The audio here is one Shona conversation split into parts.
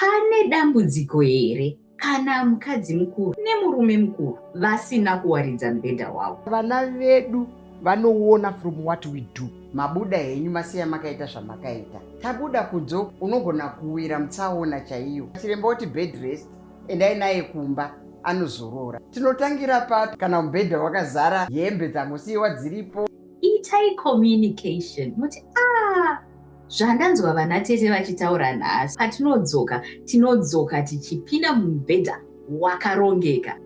Pane dambudziko here kana mukadzi mukuru nemurume mukuru vasina kuwaridza mubhedha wavo? Vana vedu vanoona from what we do. Mabuda henyu masiya makaita zvamakaita. Tabuda kudzo unogona kuwira mutsaona chaiyo. Chiremba oti bed rest endai naye kumba anozorora. Tinotangira papi kana mubhedha wakazara hembe dzangosiiwa dziripo? Itai communication muti ah Zvandanzwa vana tete vachitaura nhasi patinodzoka tinodzoka tichipinda mumubhedha wakarongeka.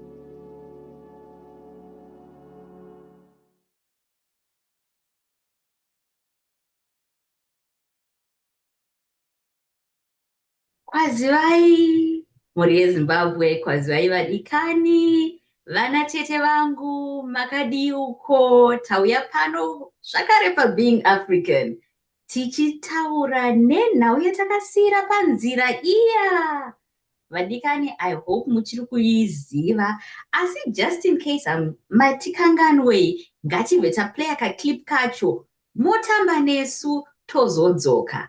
Kwazivai, mhuri yeZimbabwe, kwazivai vadikani, vana tete vangu, makadii uko, tauya pano zvakare paBeing African tichitaura nenhau yatakasiira panzira iya vadikani i hope muchiri kuiziva asi just in case um, matikanganwei ngatibve taplaya kaclip kacho motamba nesu tozodzoka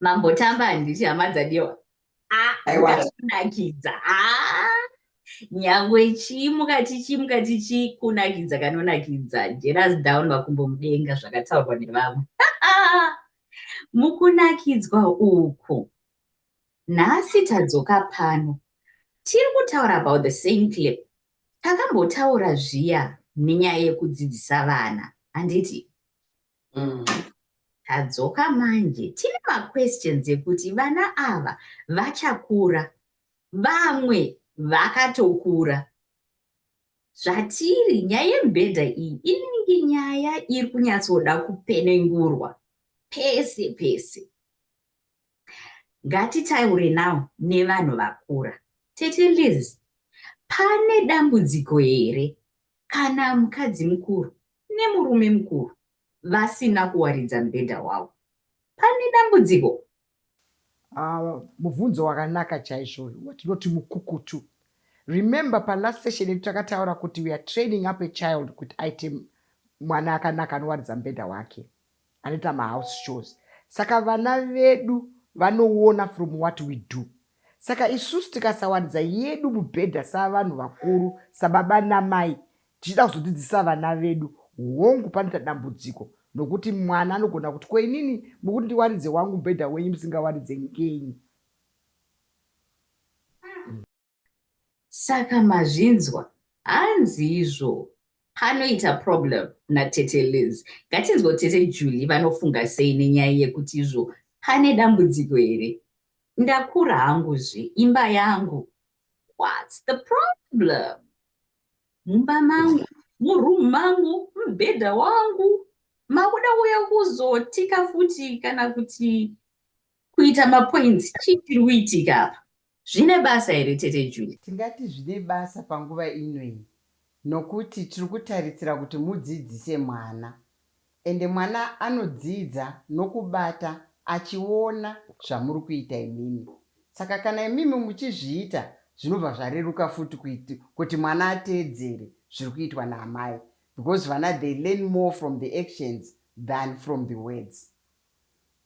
Mambo Tamba handiti hama dzadiwa. Ah, kunakidza. Ah. Nyangwe chii mukati chii mukati chii kunakidza kanonakidza. Jealous down makumbo mudenga zvakataurwa nevamwe. Mukunakidzwa uku. Nhasi tadzoka pano. Tiri kutaura about the same clip. Takambotaura zviya nenyaya yekudzidzisa vana. Handiti? mm. tadzoka manje tine maquestions ekuti vana ava vachakura vamwe vakatokura zvatiri nyaya yemubhedha iyi inenge nyaya iri kunyatsoda kupenengurwa pese pese Ngatitaure now nevanhu vakura. Tete Liz, pane dambudziko here kana mukadzi mukuru nemurume mukuru vasina kuwaridza mubhedha wavo? Pane dambudziko? Uh, mubvunzo wakanaka chaizvo uyu watinoti mukukutu. Remember palast session yedu takataura kuti we are training up a child kuti aite mwana akanaka anowaridza mubhedha wake. anoita mahouse shows saka vana vedu vanoona from what we do saka isusu tikasawaridza yedu mubhedha savanhu vakuru sababa namai tichida kuzodzidzisa vana vedu hongu panoita dambudziko nokuti mwana anogona kuti ko inini mukuti ndiwaridze wangu mubhedha wenyu musingawaridze ngenyi Saka mazvinzwa hanzi izvo. Panoita problem natete Liz. Ngatinzwewo tete Julie vanofunga sei nenyaya yekuti izvo pane dambudziko here. Ndakura hangu zve imba yangu. What's the problem? Mumba mangu, muroom mangu, mubhedha wangu. Makuda uya kuzotika futi kana kuti Kuita mapoints chii chiri kuitika apa? Zvine basa here tete Julie? Tingati zvine basa panguva ino iyi nokuti tiri kutarisira kuti mudzidzise mwana ende mwana anodzidza nokubata achiona zvamuri kuita imimi. Saka kana imimi muchizviita zvinobva zvareruka futi kuiti, kuti mwana ateedzere zviri kuitwa naamai because vana they learn more from the actions than from the words.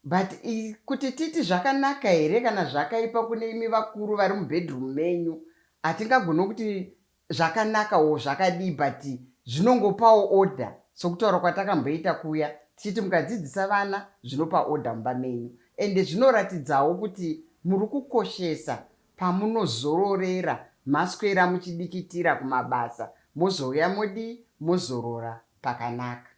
But i kuti titi zvakanaka here kana zvakaipa kune imi vakuru vari mubedroom menyu hatingagone kuti zvakanaka or zvakadii but zvinongopawo order sokutaura kwatakamboita kuya tichiti mukadzidzisa vana zvinopa order mumba menyu ende zvinoratidzawo kuti muri kukoshesa pamunozororera maswera muchidikitira kumabasa mozouya modii mozorora pakanaka.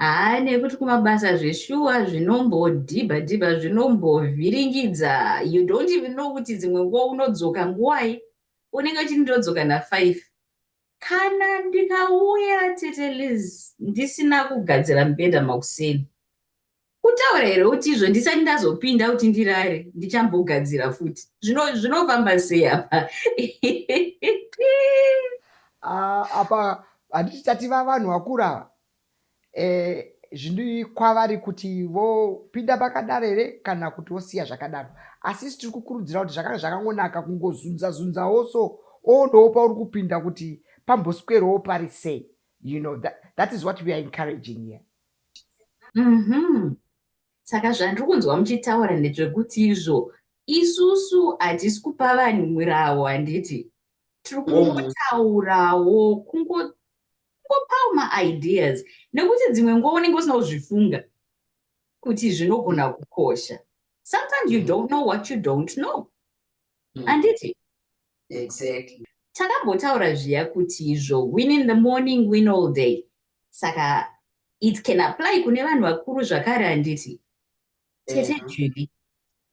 Haa nekuti kumabasa zveshuwa zvinombodhibha dhibha zvinombovhiringidza you don't even know kuti dzimwe nguva unodzoka nguvai unenge uchiti ndodzoka nafive kana ndikauya tete liz ndisina kugadzira mubhedha makuseni Kutaura here kuti izvo ndisati ndazopinda kuti ndirare ndichambogadzira futi zvino zvinofamba sei apa ah, apa handiti tativa vanhu vakura ava e, eh, zvini kwavari kuti vopinda pakadaro here kana kuti vosiya zvakadaro asi isi tiri kukurudzira kuti zvakanga zvakangonaka kungozunza zunzawo so oonawo pauri kupinda kuti pamboswerwawo pari sei you know that, that is what we are encouraging here Mhm. Saka zvandiri kunzwa muchitaura ndezvekuti izvo isusu hatisi kupa vanhu murawo handiti? Tiri mm. kungotaurawo kungopawo maideas nekuti dzimwe nguva unenge usina kuzvifunga kuti zvinogona kukosha. Sometimes you mm. don't know what you don't know. Mm. Handiti? Exactly. Takambotaura zviya kuti izvo win in the morning, win all day. saka it can apply kune vanhu vakuru zvakare handiti tete mm. judy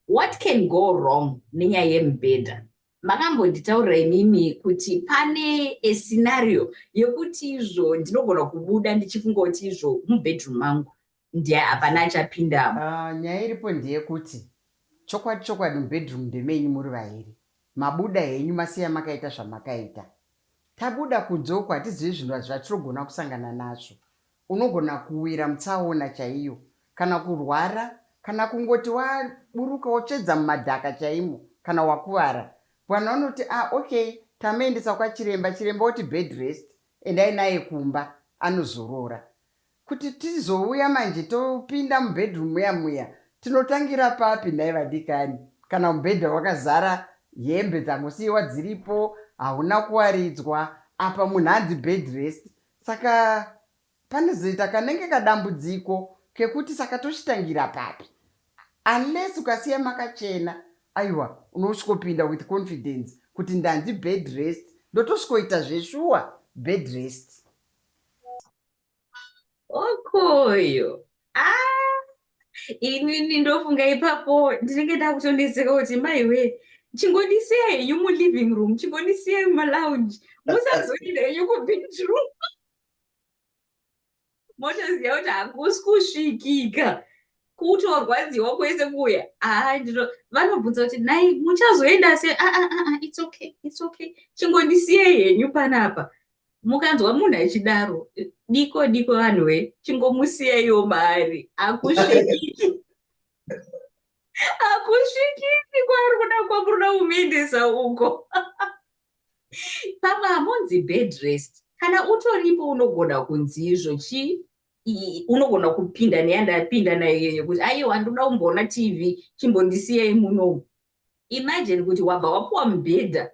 what can go wrong nenyaya yemubhedha makambonditaurira imimi kuti pane escenario yekuti izvo ndinogona kubuda ndichifunga kuti izvo mubedroom mangu ndiye hapana achapindamo. Uh, nyaya iripo ndeyekuti chokwadi chokwadi mubedroom ndemenyu muri vairi mabuda henyu masiya makaita zvamakaita tabuda kunze uko hatizivi zvinhu zvatinogona kusangana nazvo unogona kuwira mutsaona chaiyo kana kurwara kana kungoti waburuka wotsvedza mumadhaka chaimo kana wakuvara bwana wanoti ah okay tamuendesa kwachiremba chiremba woti bed rest endai naye kumba anozorora Kuti tizouya manje topinda mubedroom muya muya tinotangira papi nhai vadikani? Kana mubhedha wakazara hembe dzangosiiwa dziripo hauna kuwaridzwa apa munhu anzi bed rest saka panozoita kanenge kadambudziko kekuti saka tochitangira papi? Unless ukasiya makachena aiwa unosvikopinda with confidence kuti ndanzi bed rest ndotosvikoita zveshuwa bed rest. okoyo ah, inini ndofunga ipapo ndinenge ndakutonetseka kuti maiwe chingondisiya henyu muliving room chingondisiya mumalounge musazoenda henyu kubedroom motoziva kuti hakusi kusvikika kutorwadziwa kwese kuya haa ndino vanobvunza kuti nai muchazoenda se aa ah, ah, ah, its okay its okay chingondisiye henyu panapa mukanzwa munhu achidaro diko diko vanhu we chingomusiyaiwo maari akusvikiki akusvikiki kwaari kuda kwamuruda kumuendesa uko pamwe hamunzi bed rest kana utoripo unogona kunzi izvo chii unogona kupinda neyandapinda nayo iyoyo kuti aiwa ndoda kumboona tv chimbondisiyai munomu imajini kuti wabva wapuwa mubhedha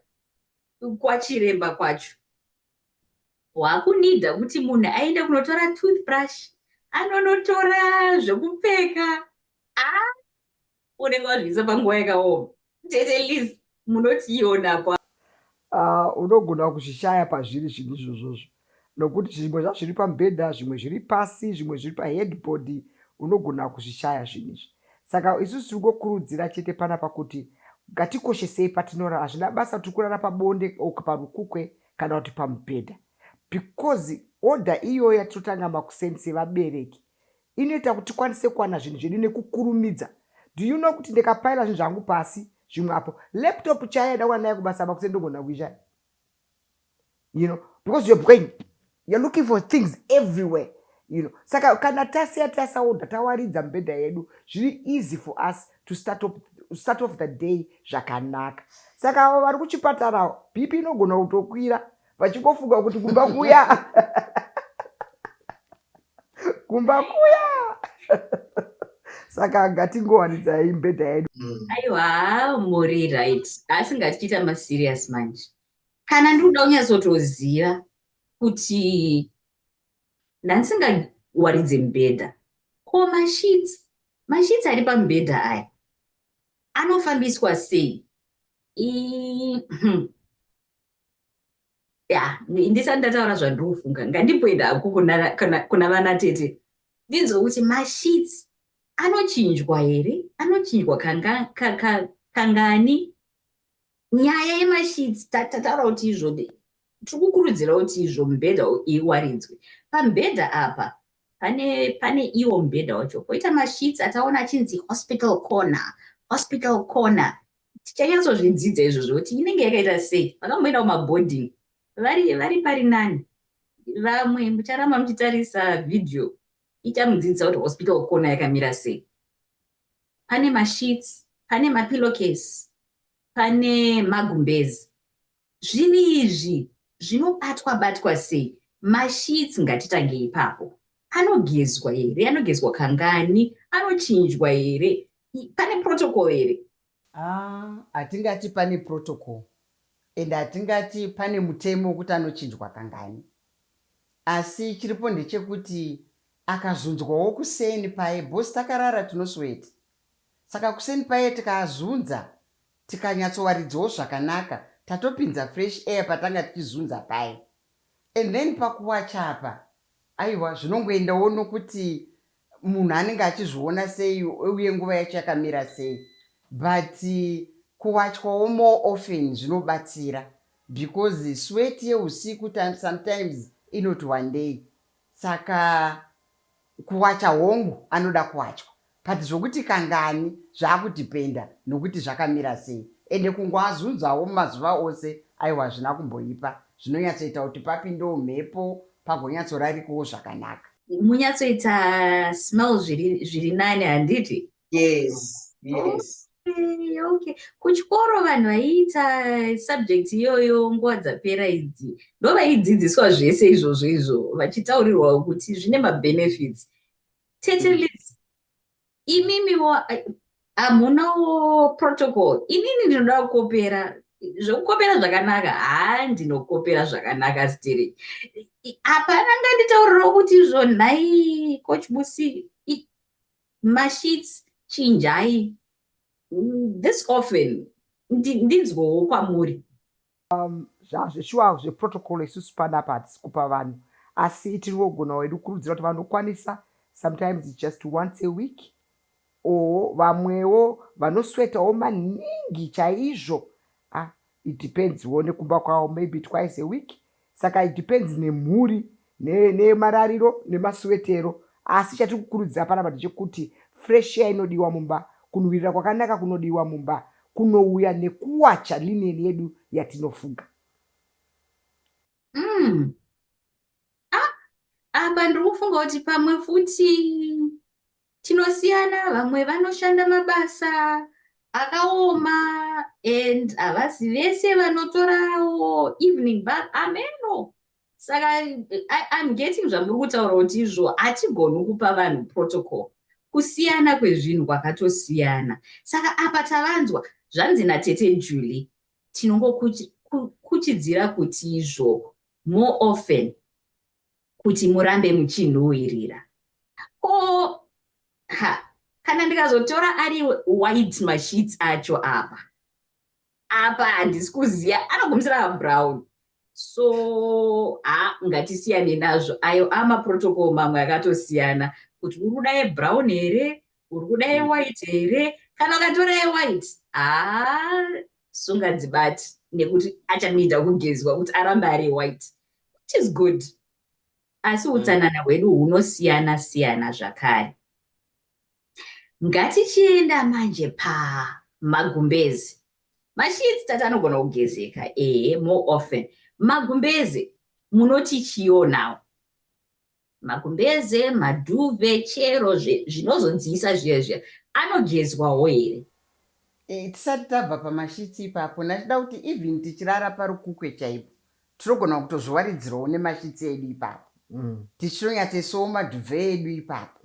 kwachiremba kwacho wakunida kuti munhu aende kunotora toothbrush anonotora zvekupfeka a ah, unenge wazviisa panguva yakaoma tete liz munotiiona kwa ah, unogona kuzvishaya pazviri zvinhu izvozvozvo nokuti zvimwe zvazviri pamubhedha zvimwe zviri pasi zvimwe zviri paheadboard unogona kuzvishaya zvinhu izvi saka isu tiri kungokurudzira chete panapa kuti ngatikoshesei patinorara hazvina basa kuti tiri kurara pabonde or parukukwe kana kuti pamubhedha because order iyoyo yatirotanga makuseni sevabereki inoita kuti tikwanise kuwana zvinhu zvedu nekukurumidza do you know kuti ndikapaila zvinhu zvangu pasi zvimwe apo laptop chaiya dawana naye kubasa makuseni ndogona kuishaya you know because you're going you're looking for things everywhere you know saka kana tasiya tasaodha tawaridza mibhedha yedu zviri easy for us to start off, start off the day zvakanaka saka avo vari kuchipatarawo bp inogona kutokwira vachingofunga kuti kumba kuya kumba kuya saka ngatingowanidzayi mbedha yedu mm. aiwa muri right asi ngatichiita maserious manje kana ndiri kuda kunyatsotoziva kuti ndandisingawaridze mubhedha ko mashits mashits ari pamubhedha aya anofambiswa sei hmm. ya ndisati ndataura zvandiri kufunga ngandipoenda hako kuna vana tete ndinzwe kuti mashits anochinjwa here anochinjwa kangani nyaya yemasheets tataura kuti izvo tiri kukurudzira kuti izvo mubhedha iwaridzwe pamubhedha apa pane pane iwo mubhedha wacho koita masheets ataona achinzi hospital corner hospital corner tichanyatsozvidzidza izvo zvokuti inenge yakaita sei vakamboenda kumaboarding vari vari pari nani vamwe mucharamba muchitarisa vhidhiyo Ita mudzidzisa kuti hospital corner yakamira sei. Pane masheets, pane mapillowcase, pane magumbezi. Zvinhu izvi zvinobatwa batwa sei? Masheets ngatitange ipapo. Anogezwa here? Anogezwa kangani? Anochinjwa here? Pane protocol here? Haa hatingati pane protocol and hatingati pane mutemo wekuti anochinjwa kangani asi chiripo ndechekuti akazunzwawo kuseni paye boss takarara tinosweeta saka kuseni paye tikaazunza tikanyatsowaridzawo zvakanaka tatopinza fresh air patanga tichizunza paye and then pakuwacha apa aiwa zvinongoendawo nokuti munhu anenge achizviona sei uye nguva yacho yakamira sei but kuwachwawo more often zvinobatsira because sweat yeusiku sometimes inoti wandei saka kuwacha hongu anoda kuwachwa but zvokuti kangani zvakudependa nokuti zvakamira sei ende kungoazunzawo mumazuva ose aiwa hazvina kumboipa zvinonyatsoita kuti papindewo mhepo pagonyatsorarikawo zvakanaka munyatsoita smell zviri nani handiti yes yes okay kuchikoro vanhu vaiita subject iyoyo nguva dzapera idzi ndo vaidzidziswa zvese izvozvo izvo vachitaurirwa kuti zvine mabenefits tete mm. imimiwo hamunawo protocol inini ndinoda kukopera zvokukopera zvakanaka haa ndinokopera zvakanaka stiri hapana nganditauriro kuti izvo nhai coach busi mashits chinjai this often ndinzwowo kwamuri Umm zvazve shuwa zve protocol isusu panapa hatisi kupa vanhu asi itirikugona wedu kukurudzira kuti vanokwanisa sometimes it's just once a week or vamwewo vanoswetawo maningi chaizvo ah it depends wo nekumba kwavo maybe twice a week saka it depends nemhuri nemarariro nemasuwetero asi chatiri kukurudzira panapa ndechekuti fresh air inodiwa mumba, kunhuwirira kwakanaka kunodiwa mumba kunouya nekuwacha linen yedu yatinofuga. Umm ah apa ndiri kufunga kuti pamwe futi tinosiyana vamwe vanoshanda mabasa akaoma and havasi vese vanotorawo evening bath ameno saka im getting zvamuri kutaura kuti izvo hatigoni kupa vanhu protocol kusiyana kwezvinhu kwakatosiyana saka apa tavanzwa zvanzi natete julie tinongokuchidzira kuti izvo more often kuti murambe muchinhuhwirira ko ha kana ndikazotora ari white mashits acho apa apa handisi kuziva anogumisira abrown so ha ngatisiyane nazvo ayo amaprotocol mamwe akatosiyana kuti uri kuda yebrown here uri kuda yewhite here kana ukatora yewhite ha sunga dzibati nekuti achamida kugezwa kuti arambe ari yewhite which is good asi mm. utsanana hwedu hunosiyana siyana zvakare Ngatichienda manje pa magumbezi. Masheets tata anogona kugezeka ehe more often. Magumbezi munoti chiyo now. Magumbeze, maduve, chero zvinozodziisa zviya zviya anogezwawo here? Eh, tisati tabva pamashitsi ipapo ndachida kuti even tichirara parukukwe chaipo Tinogona kutozviwaridzirawo nemashitsi edu ipapo tichinonyatsoisawo madhuve edu ipapo.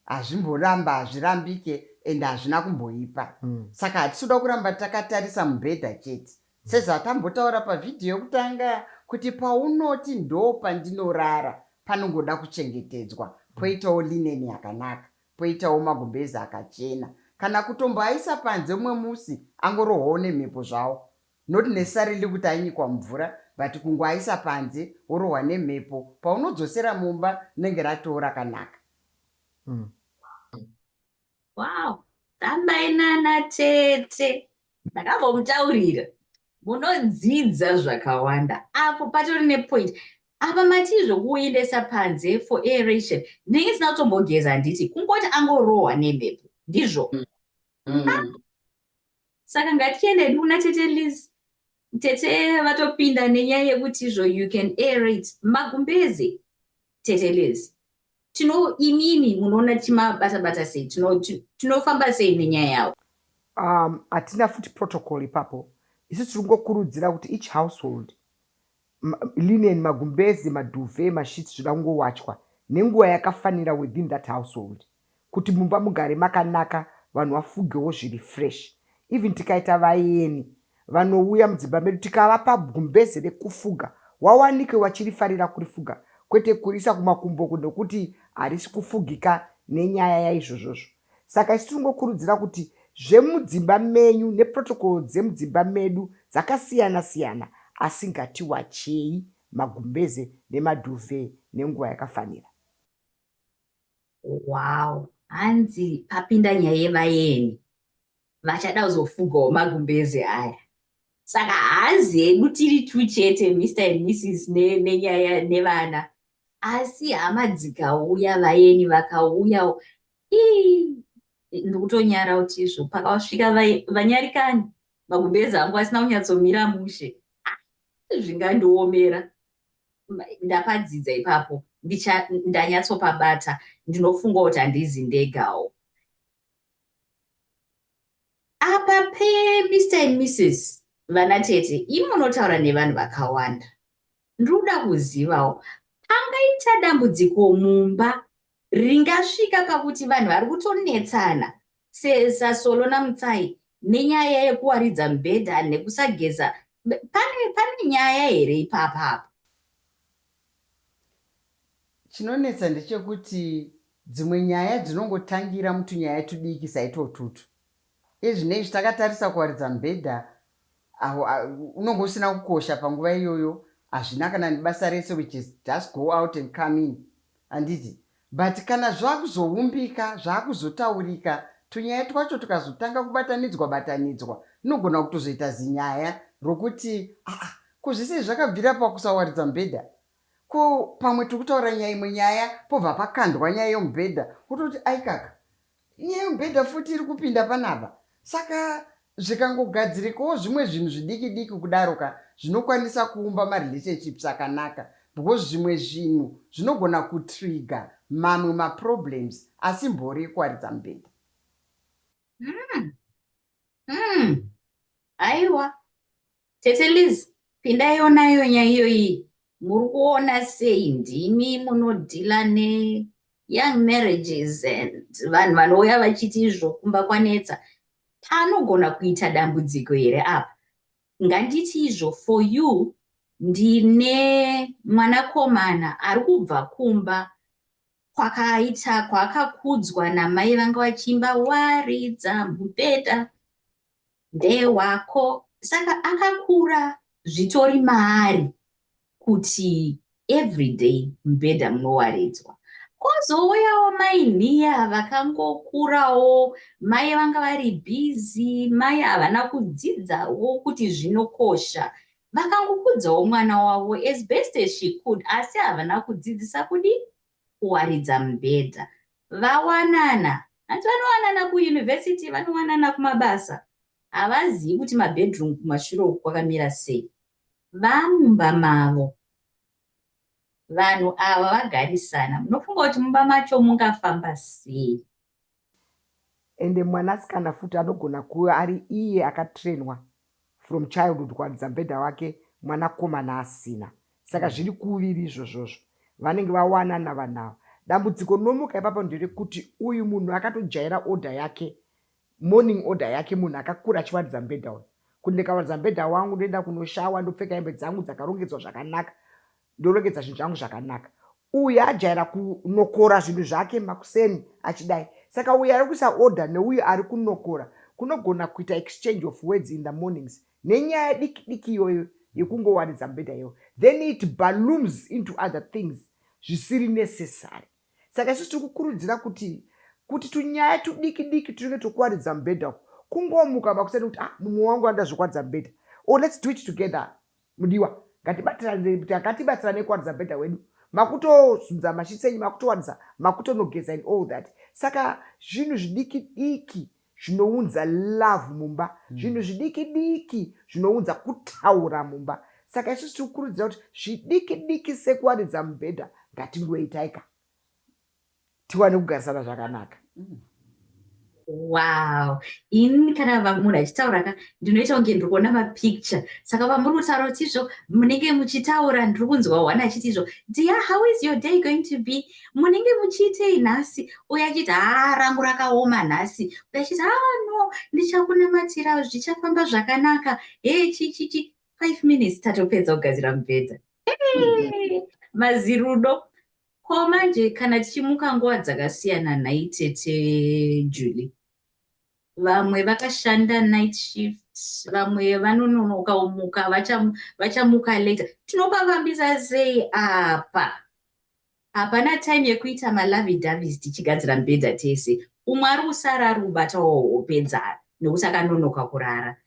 Hazvimboramba, hazvirambike and hazvina kumboipa. Saka hatisi kuda kuramba takatarisa mubhedha chete. Sezvatambotaura pavhidhiyo yokutanga kuti paunoti ndopandinorara panongoda kuchengetedzwa, poitawo lineni yakanaka, poitawo magumbezi akachena. Kana kutomboaisa panze umwe musi angorohwawo nemhepo zvawo, Not necessarily kuti ainyikwa mumvura but kungoaisa panze orohwa nemhepo paunodzosera mumba rinenge ratoo rakanaka. Umm. Wow. Amai nana tete ndakambomutaurira munodzidza zvakawanda apo patori nepoint apa matii zvokuendesa panze for aeration ndinenge ndisina kutombogeza handiti kungoti angorohwa nemhepo ndizvo mm. Mm. Ah. saka ngatichienda hedu kuna tete liz tete vatopinda nenyaya yekuti izvo you can air it magumbeze tete liz tino imimi munoona tichimabata bata sei tinofamba tino sei nenyaya yavo um, hatina um, futi protocol ipapo isu tiri kungokurudzira kuti each household linen, magumbeze, maduve, masheets zvoda kungowachwa nenguva yakafanira within that household kuti mumba mugare makanaka vanhu vafugewo zviri fresh. Even tikaita vayeni vanouya mudzimba medu tikavapa gumbeze rekufuga wawanike vachirifarira kurifuga kwete kuriisa kumakumbo uko nokuti harisi kufugika nenyaya yaizvozvozvo. Saka isu tinongokurudzira kuti zvemudzimba menyu neprotocol dzemudzimba medu dzakasiyana siyana asi ngatiwachei magumbeze nemaduve nenguva yakafanira. Wow hanzi papinda nyaya yevaeni vachada kuzofugawo magumbeze aya saka hanzi hedu tiri two chete Mister and Mrs nenyaya nevana asi hama dzikauya vayeni vakauya ii ndikutonyara kuti izvo pakasvika vanyarikani magumbezi angu asina kunyatsomira mushe ah, zvingandiomera ndapadzidza ipapo ndanyatsopabata ndinofunga kuti handizi ndegawo apa pemr and mrs vana tete imi munotaura nevanhu vakawanda Ndoda kuzivawo pangaita dambudziko mumba ringasvika pakuti vanhu vari kutonetsana saSolo naMutsai nenyaya yekuwaridza mubhedha nekusageza pane pane nyaya here ipapa apo? Chinonetsa ndechekuti dzimwe nyaya dzinongotangira mutunyaya tudiki saitwotutu Ezvinei izvi takatarisa kuwaridza mubhedha awo unenge usina kukosha panguva iyoyo hazvina kana nebasa rese which is just go out and come in handiti but kana zvakuzoumbika zvakuzotaurika tunyaya twacho tukazotanga kubatanidzwa batanidzwa unogona kutozoita zinyaya rokuti aa ko zvese izvi zvakabvira pakusawaridza mubhedha ko pamwe tiri kutaura nyaya imwe nyaya pobva pakandwa nyaya yomubhedha wototi aikaka Inyaya yemubhedha futi iri kupinda panapa. Saka zvikangogadzirikawo zvimwe zvinhu zvidiki diki kudaro ka zvinokwanisa kuumba marelationships akanaka because zvimwe zvinhu zvinogona kutrigger mamwe maproblems asi mbori yekuwaridza mubhedha. Umm umm aiwa Tete Liz, pindai onaiwo nyaya iyoyi. Muri kuona sei ndimi munodhila ne young marriages and vanhu vanouya vachiti izvo kumba kwanetsa. Panogona kuita dambudziko here apa? Nganditi izvo for you ndine mwanakomana ari kubva kumba kwakaita kwaakakudzwa namai vanga vachiimba waridza mubhedha ndewako saka akakura zvitori maari kuti everyday mubhedha munowaridzwa kozouyawo mai nhiya vakangokurawo mai vanga vari busy mai havana kudzidzawo kuti zvinokosha vakangokudzawo mwana wavo as best as she could asi havana kudzidzisa kudii kuwaridza mubhedha vawanana hanti vanowanana kuuniversity vanowanana kumabasa havazivi kuti mabedroom kumashure uku kwakamira sei vamumba mavo vanhu ava vagarisana munofunga kuti mumba macho mungafamba sei Ende mwanasikana futi anogona kuve ari iye akatrainwa from childhood kuwaridza mubhedha wake mwanakomana asina. Saka zviri kuviri izvozvozvo. Vanenge vawanana vanhu ava. Dambudziko rinomuka ipapo nderekuti uyu munhu akatojaira order yake, morning order yake munhu akakura achiwaridza mubhedha uyu. Kuti ndikawaridza mubhedha wangu ndoenda kunoshawa, ndopfeka hembe dzangu dzakarongedzwa zvakanaka, ndorongedza zvinhu zvangu zvakanaka uyu ajaira kunokora zvinhu zvake makuseni achidai saka uyu ari kuisa order neuyu ari kunokora kunogona kuita exchange of words in the mornings nenyaya diki diki iyoyo yekungowaridza mubhedha iyoyo then it balooms into other things zvisiri necessary saka isusu tiri kukurudzira kuti kuti tunyaya tudiki diki tunenge twokuwaridza mubhedha uku kungomuka makuseni kuti ah mumwe wangu anoda zvekuwaridza mubhedha or oh, let's do it together Mudiwa ngatibatirane ngatibatsirane kuwaridza bhedha wedu makutozunza masheets enyu makutowaridza makutonogeza and all that saka zvinhu zvidiki diki zvinounza love mumba hmm. zvinhu zvidiki diki zvinounza kutaura mumba saka isusu tiri kukurudzira kuti zvidiki diki sekuwaridza mubhedha ngatingoitaika tiwane kugarisana zvakanaka mm. wow ini kana munhu achitaura ka ndinoita kunge ndiri kuona mapicture saka vamuri kutaura kuti izvo munenge muchitaura ndiri kunzwa wani achiti izvo dia how is your day going to be munenge muchiitei nhasi uye achiti haa rangu rakaoma nhasi uye achiti haa ah, no ndichakunamatira zvichafamba zvakanaka hee chichichi five minutes tatopedza kugadzira mubhedha mazirudo Ko manje kana tichimuka nguva dzakasiyana nhai tete Julie? Vamwe vakashanda night shift vamwe vanononoka umuka vachamuka later tinopavambisa sei apa hapana time yekuita malavi davis tichigadzira mbedha tese umwe ari kusara ari kubata wopedzana nekuti akanonoka kurara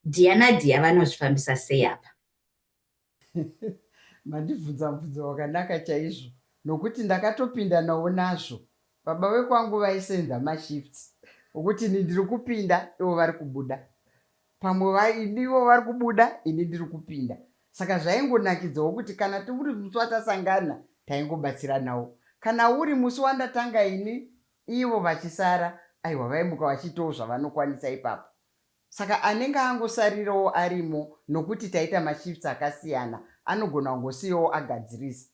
dhiya nadhiya vanozvifambisa sei apa Mandibvunza mubvunzo wakanaka chaizvo nokuti ndakatopindanawo nazvo. Baba vekwangu vaisenza mashifts okuti ini ndiri kupinda ivo vari kubuda. Pamwe ivo vari kubuda ini ndiri kupinda. Saka zvaingonakidzawo kuti kana tiri musi watasangana taingobatsiranawo. Kana uri musi wandatanga ini ivo vachisara, aiwa vaimuka vachiitawo zvavanokwanisa ipapo. Saka anenge angosarirawo arimo nokuti taita mashifts akasiyana anogona kungosiyawo agadzirisa.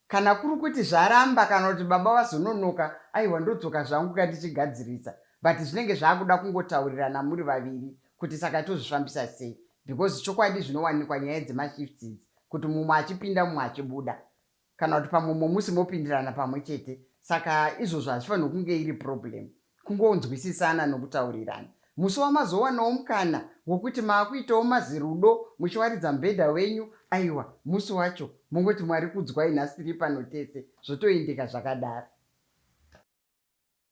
Kana kuri kuti zvaramba kana kuti baba vazononoka aiwa ndodzoka zvangu ka ndichigadzirisa but zvinenge zvakuda kungotaurirana muri vaviri kuti saka tozvifambisa sei because chokwadi zvinowanikwa nyaya dzemashifts idzi kuti mumwe achipinda mumwe achibuda kana kuti pamwe mumwe musi mopindirana pamwe chete saka izvozvo hazvifanirwe kunge iri problem kungonzwisisana nokutaurirana musi wamazowanawo mukana wokuti maakuitawo mazirudo muchiwaridza mubhedha wenyu aiwa musi wacho mongoti mwari kudzwai nhasi tiri pano tese zvotoendeka zvakadaro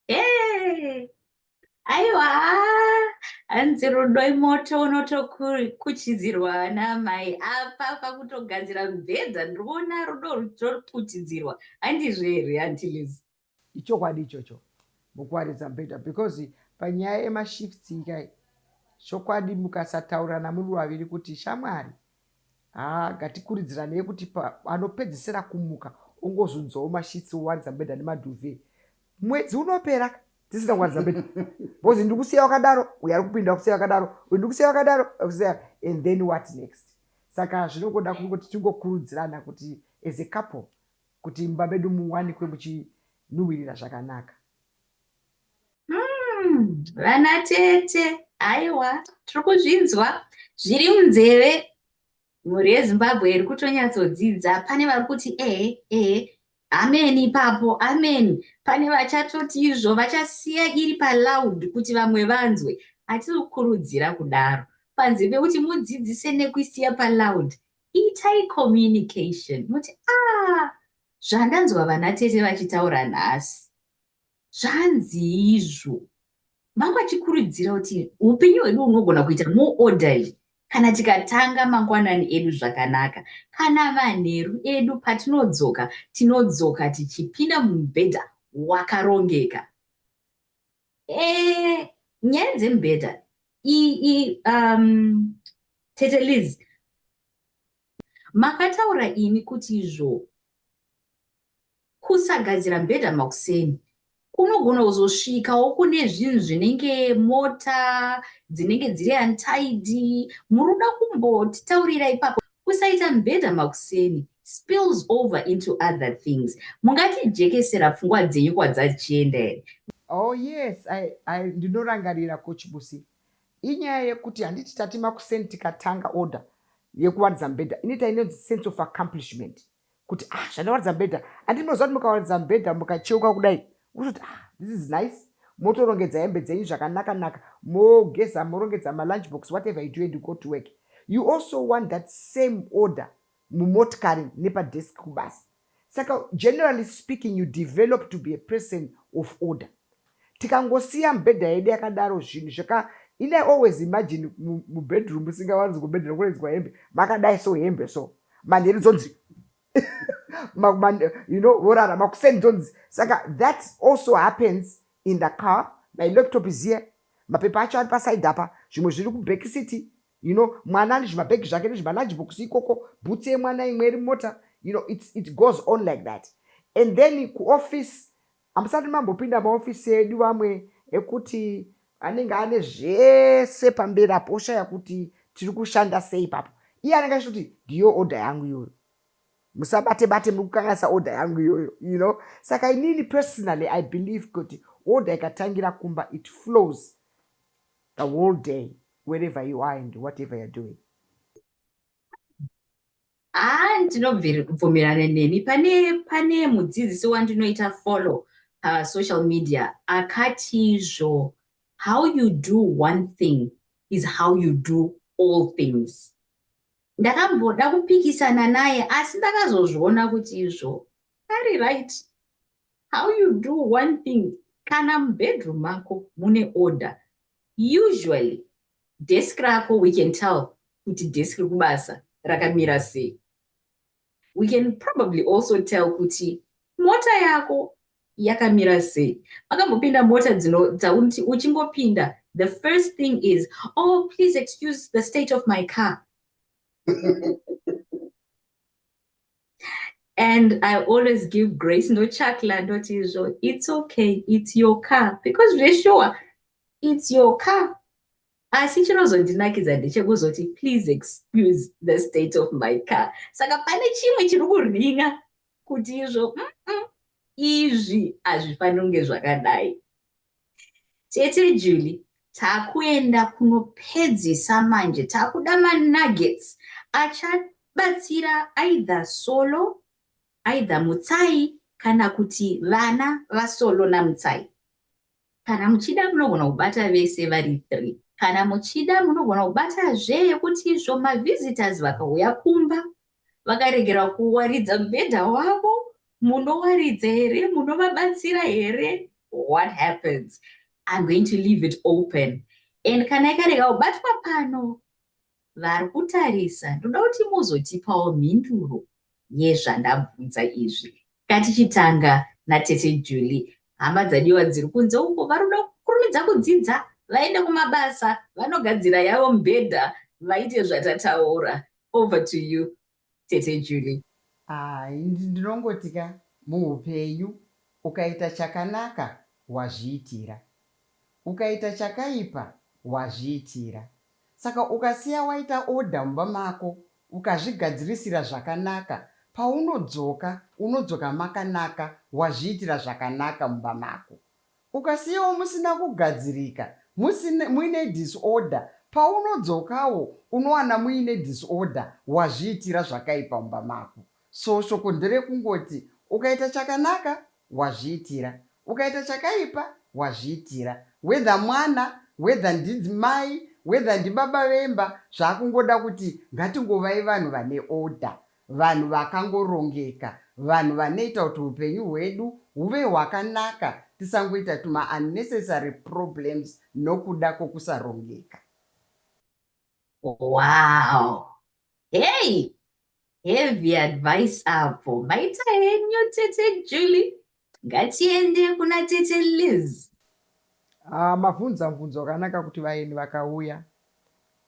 Hey. aiwa hanzi rudo imoto unotokuchidzirwa namai apa pakutogadzira mubhedha ndikuona rudo rutokuchidzirwa handizvo here antilis ichokwadi ichocho mukuwaridza mubhedha because panyaya yemashifts ikai chokwadi mukasataurirana muri vaviri kuti shamwari Haa ngatikuridziranei kuti pa, anopedzisira kumuka ongozunzawo mashitsi owaridza mubhedha nemadhuve mwedzi unopera tisina kuwaridza mubhedha because ndiri kusiya wakadaro uyo ari kupinda kusiya wakadaro uyo ndiri kusiya wakadaro kusiya and then what next saka zvinongoda kungoti tingokurudzirana kuti as a couple kuti mumba medu muwanikwe muchinhuhwirira zvakanaka Hmm, vana tete aiwa tiri kuzvinzwa zviri munzeve mhuri yezimbabwe iri kutonyatsodzidza pane vari kuti ehe ehe ameni ipapo ameni pane vachatoti izvo vachasiya iri paloud kuti vamwe vanzwe hatiri kukurudzira kudaro panze pekuti mudzidzise nekuisiya paloud itai communication muti a ah, zvandanzwa vana tete vachitaura nhasi Zvanzii izvo? Mambo achikurudzira kuti upenyu hwedu hunogona kuita more orderly kana tikatanga mangwanani edu zvakanaka. Kana manheru edu patinodzoka, tinodzoka tichipinda mumubhedha wakarongeka. Eh, nyaya dzemubhedha iyi um, tete liz makataura imi kuti izvo Kusagadzira mubhedha makuseni kunogona kuzosvikawo kune zvinhu zvinenge mota dzinenge dziri untidy. Muruda kumbotitaurira ipapo? Kusaita mubhedha makuseni spills over into other things. Mungatijekesera pfungwa dzenyu kwadzachienda here? Oh yes, ndinorangarira Coach Busi. Inyaya yekuti handiti tati makuseni tikatanga order yekuwaridza mubhedha inoita inonzi sense of accomplishment. kuti ah zvandawaridza mubhedha andi munoziva kuti mukawaridza mubhedha mukacheuka kudai mototi ah this is nice motorongedza hembe dzenyu zvakanaka naka mogeza morongedza malunch box whatever you do and you go to work you also want that same order mumotikari nepadesk kubasa saka generally speaking you develop to be a person of order Tikangosiya mibhedha yedu yakadaro zvinhu zvaka ini I always imagine mubedroom musingawanzi kubhedhera kunoenzwa hembe makadai so hembe so manheru dzonzi you know vorara makuseni dzonzi saka that also happens in the car my laptop is here mapepa acho ari paside apa zvimwe zviri kuback city you know mwana ane zvimabhegi zvake nezvimalunch box ikoko bhutsi yemwana imwe iri mota you know it's, it goes on like that and then kuoffice Hamusati mambopinda maofisi edu vamwe ekuti anenge ane zvese pamberi apo oshaya kuti tiri kushanda sei ipapo. Iye anenge achitoti ndiyo order yangu iyoyo. Musabate bate muri kukanganisa order yangu iyoyo, you know. Saka inini personally I believe kuti order ikatangira kumba it flows the whole day wherever you are and whatever you're doing. haa ndinobvumirana nemi pane pane mudzidzisi wandinoita follow pasocial media akatizvo how you do one thing is how you do all things ndakamboda kupikisana naye asi ndakazozviona kuti izvo ari right how you do one thing kana mubedroom mako mune order usually Desk rako we can tell kuti desk rekubasa rakamira sei. We can probably also tell kuti mota yako yakamira sei. Makambopinda mota dzino dzauti uchingopinda the first thing is oh please excuse the state of my car. and i always give grace ndochakla ndoti izvo its okay its your car because zveshuwa its your car asi chinozondinakidza ndechekuzoti please excuse the state of my car saka pane chimwe chiri kurhinga kuti izvo mm -mm, izvi hazvifaniri kunge zvakadai Tete Julie, takuenda kunopedzisa manje takuda manuggets achabatsira either Solo, either Mutsai kana kuti vana vaSolo naMutsai. Kana muchida munogona kubata vese vari three. Kana muchida munogona kubata zve yekuti izvo mavisitors vakauya kumba vakaregera kuwaridza mubhedha wavo munowaridza here munovabatsira here what happens i'm going to leave it open and kana ikarega kubatwa pano vari kutarisa ndoda kuti muzotipawo mhinduro yezvandabvunza izvi katichitanga natete juli hama dzadiwa dziri kunze uko varoda kukurumidza kudzidza vaende kumabasa vanogadzira yavo mubhedha vaite zvatataura Over to you tete Julie. Ah, ndinongoti ka muupenyu ukaita chakanaka wazviitira. Ukaita chakaipa wazviitira. Saka ukasiya waita order mumba mako ukazvigadzirisira zvakanaka paunodzoka unodzoka makanaka wazviitira zvakanaka mumba mako. Ukasiyawo musina kugadzirika, musina, muine disorder, paunodzokawo unowana muine disorder, wazviitira zvakaipa mumba mako. So shoko nderekungoti ukaita chakanaka wazviitira, ukaita chakaipa wazviitira. Whether mwana, whether ndinzi mai, whether ndibaba vemba, zvakungoda kuti ngatingovai vanhu vane order. Vanhu vakangorongeka. Vanhu vanoita kuti hupenyu hwedu huve hwakanaka tisangoita tuma unnecessary problems nokuda kokusarongeka. Wow hey heavy advice apo maita henyu tete Julie Ngatiende kuna tete Liz. Ah, mavhunza mvunzo wakanaka kuti vaeni vakauya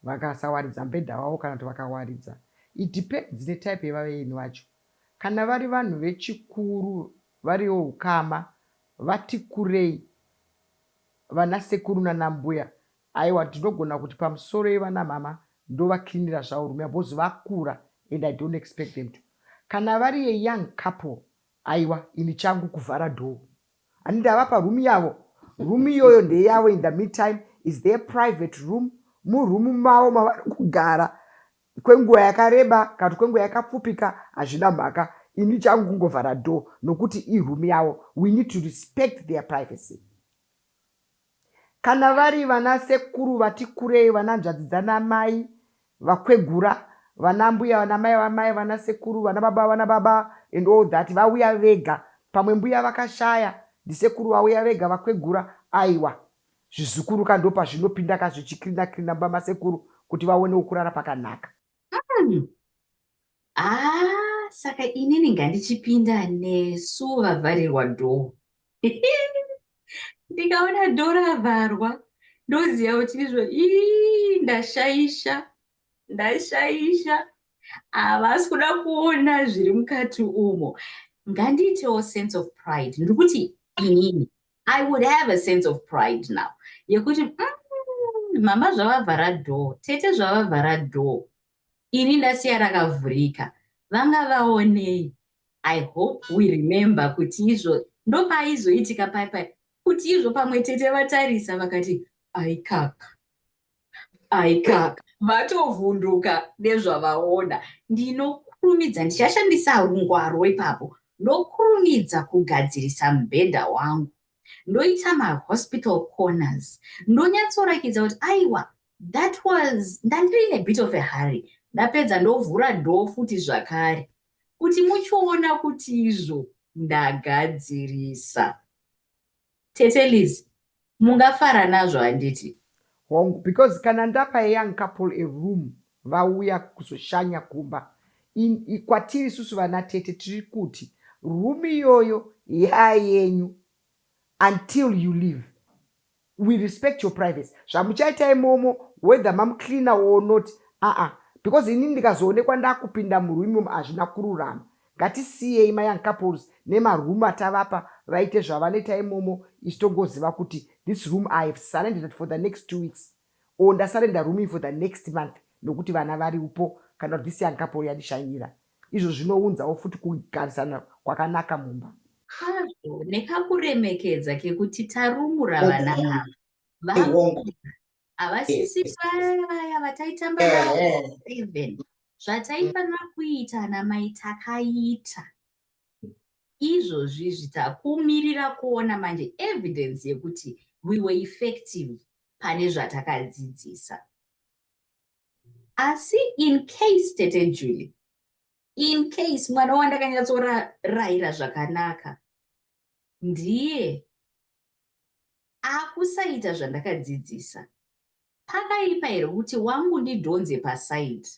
vakasawaridza mbhedha wavo kana kuti vakawaridza. It depends netype yevaeni vacho. Kana vari vanhu vechikuru variwo hukama vati kurei vana sekuru nana mbuya aiwa ndinogona kuti pamusoro yevana mama ndovaklinira zvavo rume because vakura and I don't expect them to. Kana vari a young couple Aiwa ini changu kuvhara door and ndava paroom yavo. Room iyoyo ndeyavo in the meantime is their private room muroom mavo mavari kugara kwenguva yakareba kana kuti kwenguva yakapfupika hazvina mhaka ini changu kungovhara door nokuti iroom yavo we need to respect their privacy. Kana vari vana sekuru vati kurei, vana nzvadzi dzana mai, vakwegura, vana mbuya, vana mai vamai, vana sekuru, vana baba vana baba and all that vauya vega. Pamwe mbuya vakashaya, ndisekuru vauya vega vakwegura aiwa. Zvizukuru ka ndopazvino pinda ka zvichi cleaner cleaner mumba masekuru kuti vaonewo kurara pakanaka. Umm Haa saka inini ngandichipinda nesu vavharirwa dhoo. Ndikaona dhoo ravharwa ndoziva kuti izvo ii ndashaisha ndashaisha havasi kuda kuona zviri mukati umo ngandiitewo sense of pride ndiri kuti inini i would have a sense of pride now yekuti mm, mama zvavavhara door tete zvavavhara door Ini ndasiya rakavhurika. Vanga vaonei? I hope we remember kuti izvo ndopaizoitika pai pai kuti izvo pamwe tete vatarisa vakati aikaka aikaka vatovhunduka nezvavaona ndinokurumidza ndichashandisa rungwaro ipapo ndokurumidza kugadzirisa mubhedha wangu ndoita mahospital corners ndonyatsorakidza kuti aiwa that was ndandiri in a bit of a hurry ndapedza ndovhura dho futi zvakare kuti muchiona kuti izvo ndagadzirisa tete liz mungafara nazvo handiti hongu because kana ndapa ayoung couple a room vauya kuzoshanya kumba kwatiri isusu vana tete tiri kuti room iyoyo yayenyu until you leave we respect your privacy zvamuchaita imomo whether mamu cleaner or not aah because inini ndikazoonekwa ndakupinda muroom imomo hazvina kururama ngatisiyei ma young couples nema room atavapa vaite zvavanoita imomo isu tongoziva kuti this room i have surrendered it for the next two weeks or ndasurrender room iyi for the next month nokuti vana variupo kana kuti this young couple yandishainira Izvo zvinounzawo futi kugarisana kwakanaka mumba. Hazvo nekakuremekedza kekuti tarumura vana ava, vamwe havasisi vaya vaya vataitamba navo seven zvataifanira kuita ana mai takaita izvozvizvi takumirira kuona manje evidence yekuti we were effective pane zvatakadzidzisa asi in case tete julie in case mwana wandakanyatsorayira zvakanaka ndiye akusaita zvandakadzidzisa pakaipa here kuti wangu ndidhonze pasaidi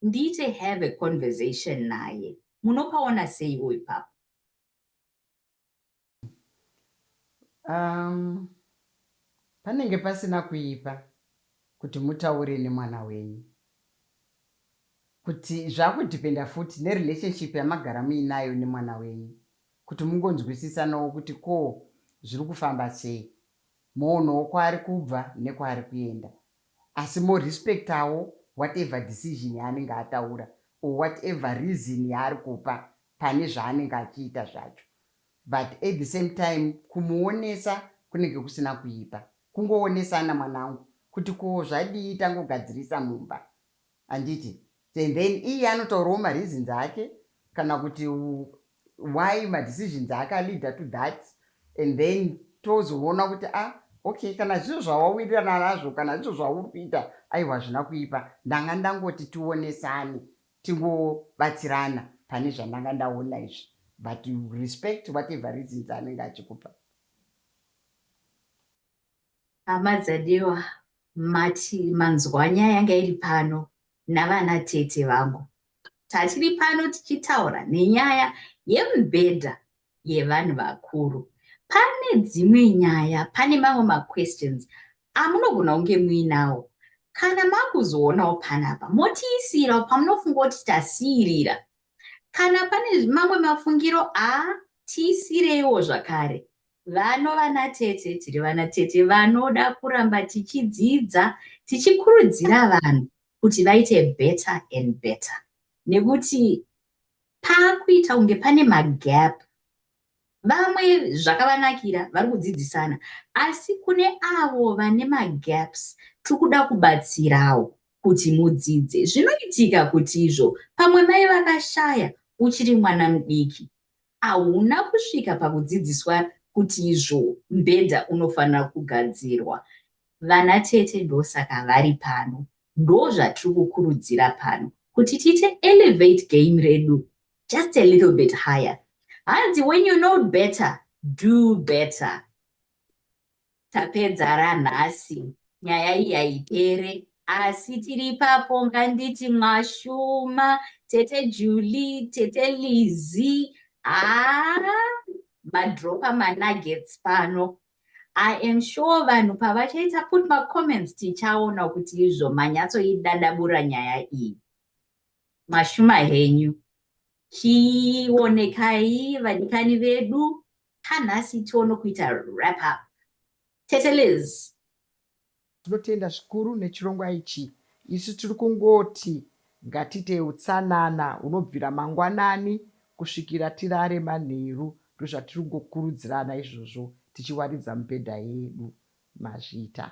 ndiite have a conversation naye munopaona seiwo ipapo Um, panenge pasina kuipa kuti mutaure nemwana wenyu kuti zvakudhipenda futi nerelationship yamagara muinayo nemwana wenyu kuti mungonzwisisanawo kuti ko zviri kufamba sei moonawo kwaari kubva nekwaari kuenda Asi mo respectawo whatever decision yaanenge ataura or whatever reason yaari kupa pane zvaanenge achiita zvacho but at the same time kumuonesa kunenge kusina kuipa kungoonesana mwanangu kuti koo zvadii tangogadzirisa mumba Handiti and then iye anotaurawo ma reasons ake kana kuti why ma decisions ake a leader to that and then tozoona kuti ah okay kana zvizvo zvawawirirana nazvo kana zvizvo zvauri kuita aiwa hazvina kuipa ndanga ndangoti tionesane tingobatsirana pane zvandanga ndaona izvi but respect whatever reasons anenge achikupa. Hama dzaDewa mati manzwanya yanga iri pano navana tete vangu. Tatiri pano tichitaura nenyaya yemubhedha yevanhu vakuru. Pane dzimwe nyaya, pane mamwe maquestions amunogona kunge muinawo. Kana makuzoonawo panapa, motiisirawo pamunofunga kuti tasiirira. Kana pane mamwe mafungiro a tiisireiwo zvakare Vano vanatete tiri vanatete vanoda kuramba tichidzidza tichikurudzira vanhu kuti vaite better and better nekuti pakuita kunge pane magap vamwe zvakavanakira vari kudzidzisana asi kune avo vane magaps tiri kuda kubatsirawo kuti mudzidze zvinoitika kuti izvo pamwe mai vakashaya uchiri mwana mudiki ahuna kusvika pakudzidziswa kuti izvo mbhedha unofanira kugadzirwa. Vana tete ndosaka vari pano. Ndozvatiri kukurudzira pano kuti tiite elevate game redu just a little bit higher. Hanzi when you know better, do better. tapedzara nhasi nyaya iyi haipere asi tiri ipapo nganditi mwashuma tete julie tete lizi haa madropa manuggets pano i am sure vanhu pavachaita put macomments tichaona kuti izvo manyatsoidadabura nyaya iyi mwashuma henyu chionekai vadikani vedu Ka nhasi tiono kuita wrap up. Tete Liz. Tinotenda zvikuru nechirongwa ichi. Isu tiri kungoti ngatiitei utsanana hunobvira mangwanani kusvikira tirare manheru ndozvatiri kungokurudzirana izvozvo tichiwaridza mibhedha yedu. Mazvita.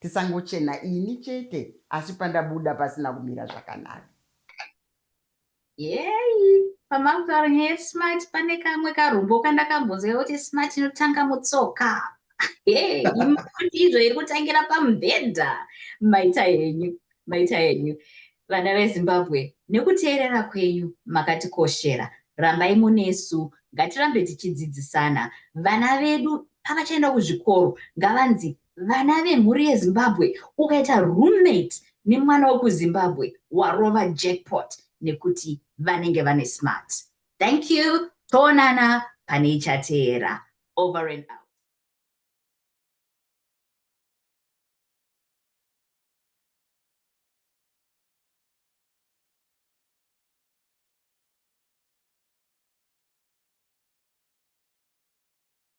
Tisangochena ini chete asi pandabuda pasina kumira zvakanaka. Yeyi, pamavharo nyaya yesmart pane kamwe karombo kandakambonzwa kuti smart inotanga mutsoka. Hey, izvo iri kutangira pamubhedha. Maita henyu, maita henyu. Vana veZimbabwe, nekuteerera kwenyu makatikoshera. Rambai munesu, ngatirambe tichidzidzisana. Vana vedu pavachaenda kuzvikoro ngavanzi Vana vemhuri yeZimbabwe ukaita roommate nemwana wekuZimbabwe warova jackpot nekuti vanenge vane smart. Thank you toonana pane ichateera. Over and out.